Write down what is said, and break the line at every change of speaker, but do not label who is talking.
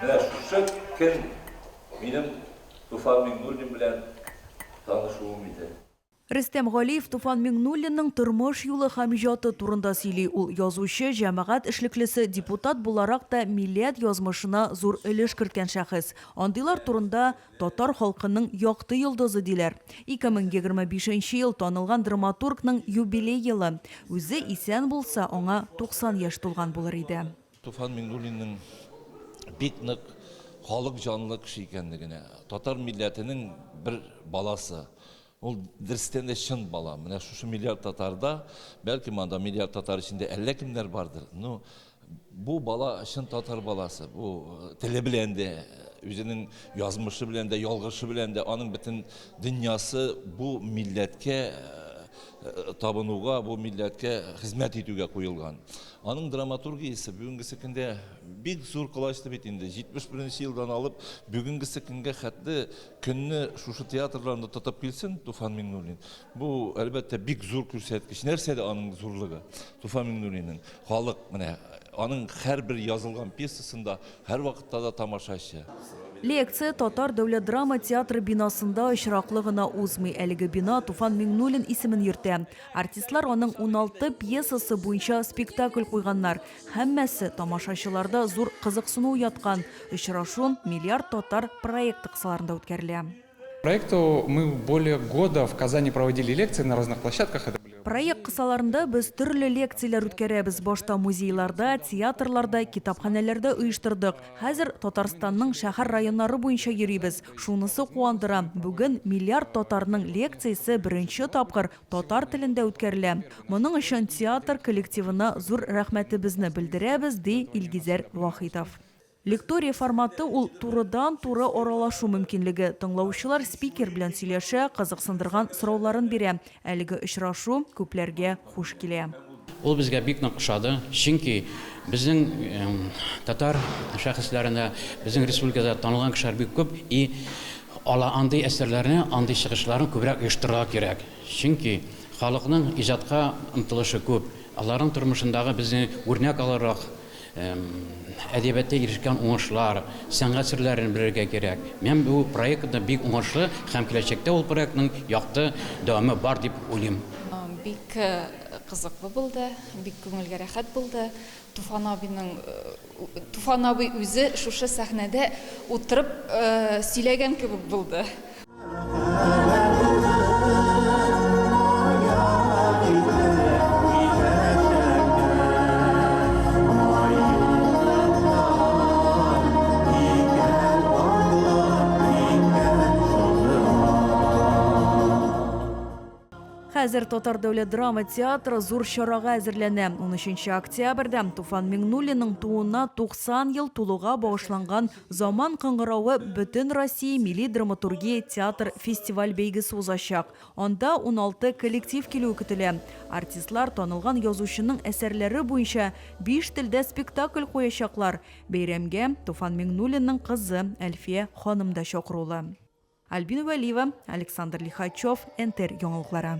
Менә шушы көн минем Туфан Миңнуллин белән танышуым иде. Рөстәм Галиев
Туфан Миңнуллинның тормыш юлы һәм иҗаты турында сөйли. Ул язучы, җәмәгать эшлеклесе, депутат буларак та милләт язмышына зур өлеш керткән шәхес. Андыйлар турында Татар халкының якты йолдызы, диләр. 2025 нче ел танылган драматургның юбилей елы. Үзе исән булса, аңа 90 яшь тулган булыр иде. Туфан Миңнуллинның
бик нык халык җанлы кеше икәнлегенә, татар милләтенең бер баласы. Ул дөрестән дә чын бала. Менә шушы миллиард татарда, бәлки монда миллиард татар эчендә әллә кемнәр бардыр. Ну, бу бала чын татар баласы. Бу э, теле белән дә, үзенең язмышы белән дә, ялгышы белән дә, аның бөтен дөньясы бу милләткә э, э, табынуга, бу милләткә хезмәт итүгә куелган. Аның драматургиясе бүгенгесе көндә бик зур колачлы бит инде. 71 нче елдан алып бүгенгесе көнгә хәтле көнне шушы театрларны тотып килсен Туфан Миңнуллин. Бу, әлбәттә, бик зур күрсәткеч. Нәрсә дә аның зурлыгы. Туфан Миңнуллинның халык менә аның һәрбер язылган пьесасында һәрвакытта да тамашачы. Лекция
Татар дәүләт драма театры бинасында очраклы гына узмый. Әлеге бина Туфан Миңнуллин исемен йөртә. Артистлар аның 16 пьесасы буенча спектакль куйганнар. Һәммәсе тамашачыларда зур кызыксыну уяткан. Очрашу Миллиард татар проекты кысаларында үткәрелә. Проекту
мы более года в Казани проводили лекции на разных площадках. Это были. Проект кысаларында
без төрле лекцияләр үткәрәбез. Башта музейларда, театрларда, китапханәләрдә оештырдык. Хәзер Татарстанның шәһәр-районнары буенча йөрибез. Шунысы куандыра, бүген миллиард татарның лекциясе беренче тапкыр татар телендә үткәрелә. Моның өчен театр коллективына зур рәхмәтебезне белдерәбез, ди Илгизәр Вахитов. Лектория форматы ул турыдан-туры аралашу мөмкинлеге, тыңлаучылар спикер белән сөйләшә, кызыксындырган сорауларын бирә, Әлеге очрашу күпләргә хуш килә. Ул безгә бик
нык ошады, чөнки безнең татар шәхесләрендә, безнең республикада танылган кешеләр бик күп и ала андый әсәрләрне, андый чыгышларны күбрәк оештырырга кирәк. Чөнки халыкның иҗатка омтылышы күп, аларның тормышындагы безне үрнәк алырлык Әдәбиятта ирешкән уңышлар, сәнгать серләрен белергә кирәк. Мин бу проектны бик уңышлы һәм киләчәктә ул проектның якты дәвамы бар дип уйлыйм. Бик
кызыклы булды, бик күңелгә рәхәт булды. Туфан абыйның, Туфан абый үзе шушы сәхнәдә утырып сөйләгән кебек булды.
Хәзер Татар дәүләт драма театры зур чарага әзерләнә. 13 октябрьдә Туфан Миңнуллинның тууына 90 ел тулуга багышланган Заман кыңгыравы Бөтенроссия милли драматургия театр фестиваль-бәйгесе узачак. Анда уналты коллектив килүе көтелә. Артистлар танылган язучының әсәрләре буенча биш телдә спектакль куячаклар. Бәйрәмгә Туфан Миңнуллинның кызы Әлфия ханым да чакырулы. Альбина Вәлиева, Александр Лихачев, НТР яңалыклары.